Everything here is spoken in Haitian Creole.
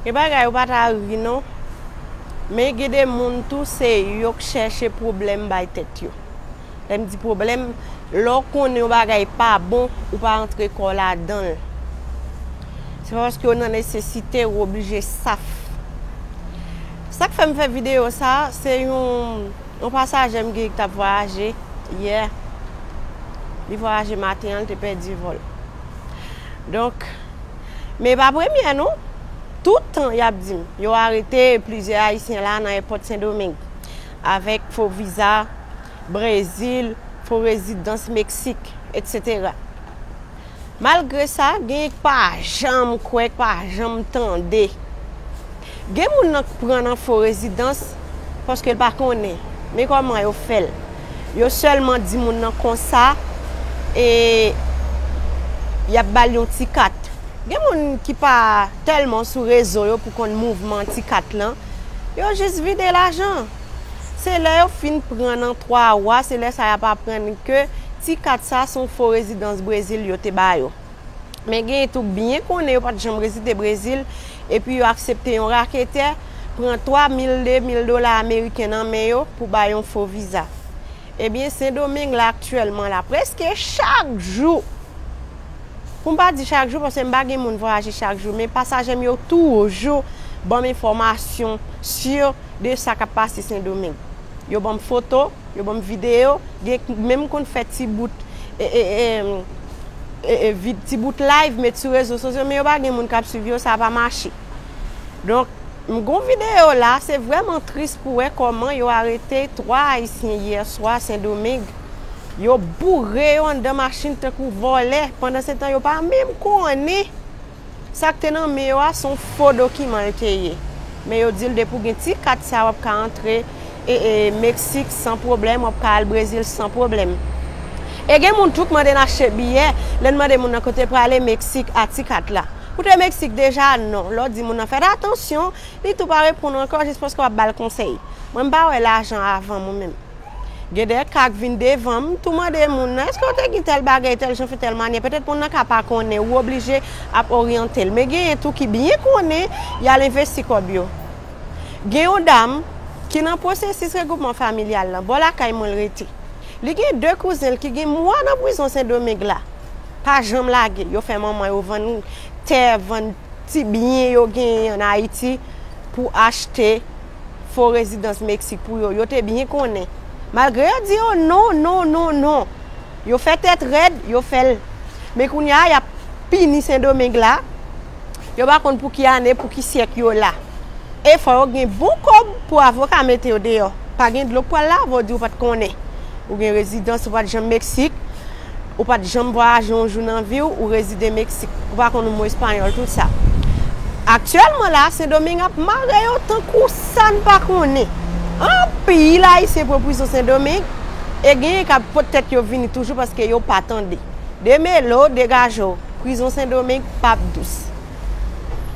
Gen bagay ou pa ta ri non. Men gen de moun tou se yo k chèche pwoblèm bay tèt yo. Lè m di pwoblèm, lè w konnen yon bagay pa bon, ou pa antre kò w ladan l. Se pa paske w nan nesesite ou oblije saf. Sa k fè m fè videyo sa a, se yon. Yon pasaje m gig t ap vwayaje yè, li vwayaje maten an li te pèdi vòl. Donk, men e pa premyè non, tout tan y ap di m yo arete plizyè ayisyen la nan èpòt Sendomeng avèk fo viza Brezil, fo rezidans Meksik, etsetera. Malgre sa, genyen k pa janm kwè, k pa janm tande. Gen moun nan k pran nan fo rezidans paske l pa konnen. Men kòman yo fè l. Yo sèlman di moun nan konsa e y ap ba l yon ti kat. Gen moun ki pa tèlman sou rezo yo pou konn mouvman ti kat lan, yo jis vide lajan. Se lè yo fin pran nan 3 wa se lè sa yap aprann ke ti kat sa son fo rezidans Brezil yo te ba yo. Men genyen tou k byen konnen yo pat janm rezide Brezil epi yo aksepte yon raketè pran 3 mil 2 mil dola ameriken nan men yo pou bay yon fo viza. Ebyen sendomeng la aktyèlman la prèske chak jou pou m pa di chak jou paske m pa gen moun vwayaje chak jou men pasaje m yo toujou ban m enfòmasyon si de sa k ap pase sendomeng yo ban m foto yo ban m videyo gen menm konn fè ti bout ti bout live met sou rezo sosyo men yo pa gen moun k ap swiv yo sa pa mache. Donk m gon video la se vreman tris pou wè koman yo arete 3 ayisyen yè swa sendomeng yo boure yo andan machin tankou volè pandan se tan yo pa menm konnen sak te nan men yo a son fo dokiman l te ye men yo dil depi w gen ti kat sa wap ka antre E e mexique san pwoblèm wap ka al brezil san pwoblèm e gen moun tou k mande n achte biyè lè n mande moun nan kote prale mexique a ti kat la ou te mexique deja non lè w di moun nan fèt atansyon li tou pa reponn w ankò jis paske wap bal konsèy mwen m pa wè lajan avan mwen menm gen de ka k vin devan m tou mande moun nan eske w te gin tèl bagèy tèl jan fè tèl manyè petèt moun nan ka pa konnen ou oblije ap oryante l men genyen tou ki byen konnen yal envesti kòb yo. Gen yon dam ki nan pwosesis regwoupman familyal lan bò lakay mwen l rete. Li gen 2 kouzen l ki gen mwa nan prizon Sendomeng la. Pa janm lage, yo fè manman yo vann tè, vann ti byen yo genyen an Ayiti pou achte fo rezidans Meksik pou yo. Yo te byen konnen. Malgre yo di yo non, non, non, non. Yo fè tèt rèd, yo fè l. Men kounye a, y ap pini Sendomeng la. Yo pa konn pou ki ane, pou ki syèk yo la. E fò yo gen bon kòb pou avoka mete yo deyò. Pa gen dlo k pral lave w di ou pa t konnen. Ou gen rezidans, ou pa t janm Meksik. Ou pa t janm vwayaje yon jou nan vi w, ou rezide Meksik. Ou pa konn yon mo espanyòl, tout sa. Aktyèlman la, Sendomeng ap mare yo tankou sa n pa konnen. Anpil Ayisyen pran prizon Sendomeng. E genyen kap pot tèt yo vini toujou paske yo pa tande. Demelo degaje w, prizon sendomeng pap dous.